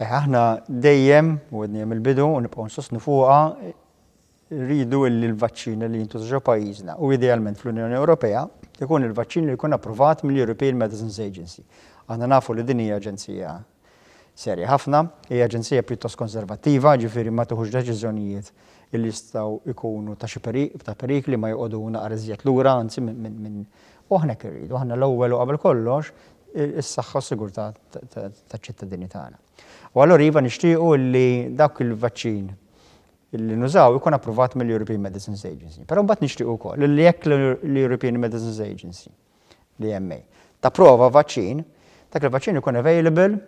Eh, aħna dejjem, u għedni mill-bidu, u nibqgħu nsostnu fuqha, rridu illi l-vaċċin li jintużaw pajjiżna u idealment fl-Unjoni Ewropea ikun il-vaċċin li jkun approvat mill-European Medicines Agency. Aħna nafu li din hija aġenzija serja ħafna, hija aġenzija pjuttost konservattiva, ġifieri ma tuħux deċiżjonijiet illi jistgħu ikunu ta' xi ta' perikli ma joqogħdu naqar iżjed lura, anzi minn U aħna hekk irridu, aħna l-ewwel u qabel kollox is-saħħa u s-sigurtà taċ-ċittadini tagħna. U allura iva nixtiequ li dawk il-vaċċin li nużaw ikun approvat mill-European Medicines Agency. Però mbagħad nixtiequ wkoll li jekk l-European Medicines Agency, l-EMA, tapprova vaċċin, dak il-vaċċin ikun available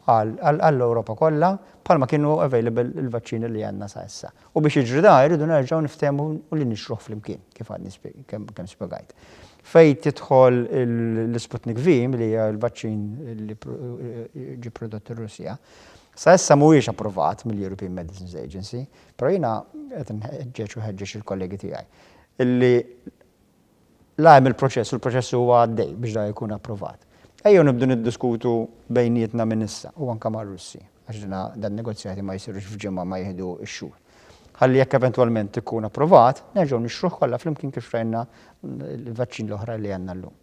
għall-Ewropa kollha bħalma kienu available il-vaċċini li għandna sa issa. U biex jiġri dan irridu nerġgħu niftehmu u li nixtruh flimkien kif għadni kemm spjegajt. Fejn tidħol l-Sputnik V li hija l-vaċċin li ġie prodott ir-Russja, sa issa mhuwiex approvat mill-European Medicines Agency, però jiena qed nħeġġeġ u ħeġġeġ il-kollegi tiegħi li La hemm il-proċess u l-proċess huwa għaddej biex dan ikun approvat. Ejjew nibdu niddiskutu bejnietna minn issa u anke mar-Russi, għax dina dan negozjati ma jsirux f'ġimgħa ma jieħdu x-xhur. Ħalli jekk eventwalment ikun approvat, nerġgħu nixtruh kollha flimkien kif rajna l-vaċċin l-oħra li għandna llum.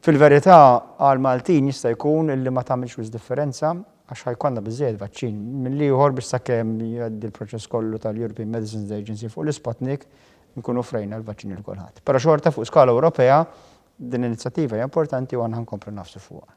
Fil-verità, għall-Maltin jista' jkun li ma tagħmilx wisq differenza għax ħa jkollna biżżejjed vaċċin. Mill-ieħor biex sakemm jgħaddi l-proċess kollu tal-European Medicines Agency fuq l-Isputnik, nkunu offrejna l-vaċċin lil kulħadd. Però xorta fuq skala Ewropea din l-inizjattiva hija importanti u aħna nkomplu nafsu fuqha.